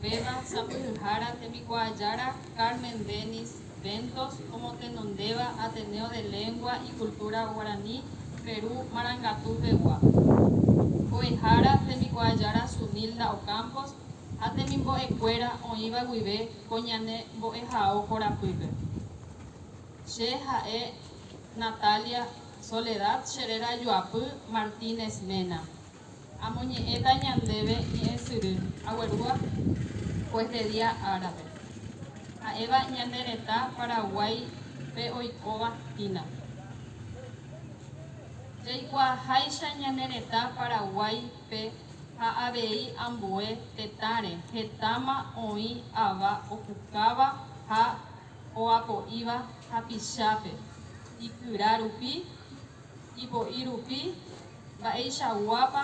Upéva sapy'yhára tembikuaajára Carmen Dennis Ventos omotenondéva Ateneo de Lengua y Cultura Guaraní Perú Marangatu pegua, mbo'ehára tembikuaajára Sunilda Ocampos ha temimbo'ekuéra oĩva guive ko ñane mbo'ehao korapýpe. Che ha'e Natalia Soledad che réra ajuapy Martínez Mena. Amoñe'ẽta ñandéve ñe'ẽsyry aguerúva juez de día árape. Ha'éva ñane retã Paraguáipe oikóva hína. Jaikuaaháicha ñane retã Paraguáipe ha avei ambue tetãre hetáma oĩ ava opukáva ha oapo'íva hapichápe ikyra rupi, ipo'i rupi, mba'eichaguápa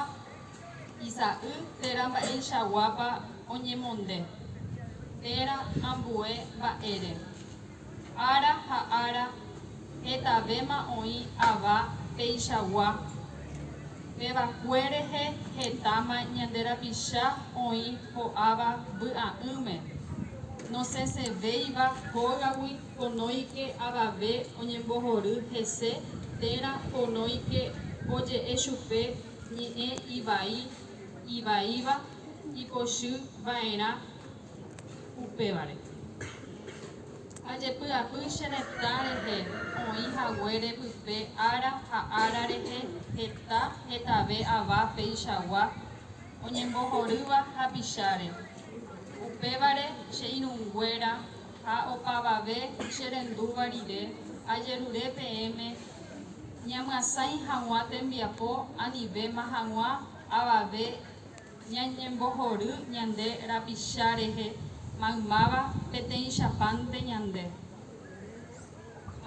isa'y térã mba'eichaguápa oñemonde térã ambue mba'ére. Ára ha ára hetavéma oĩ ava peichagua, pe va'ekue rehe hetáma ñande rapicha oĩ ho'áva vy'a'ỹme, nosẽsevéiva hógagui Ponóike avave oñembohory hese térã ponóike oje'e chupe ñe'ẽ ivai ivaíva ipochy vaerã upévare. Ajepy'apy che retã rehe oĩ haguére pype ára ha ára rehe heta hetave ava peichagua oñembohorýva hapicháre, upévare che irũnguéra, Ha opavave che rendúva rire, ajerure peẽme ñamyasãi hag̃ua tembiapo anivéma hag̃ua avave ñañembohory ñande rapicha rehe maymáva peteĩchapánte ñande.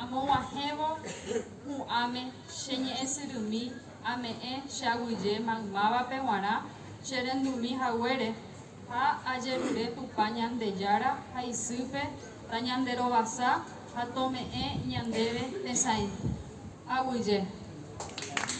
Amog̃uahẽvo hu'ãme che ñe'ẽsyrymi ame'ẽ che aguyje maymávape g̃uarã che rendumi haguére. Ha ajerure Tupã Ñandejára ha isýpe tañanderovasa ha tome'ẽ ñandéve tesãi. Aguyje.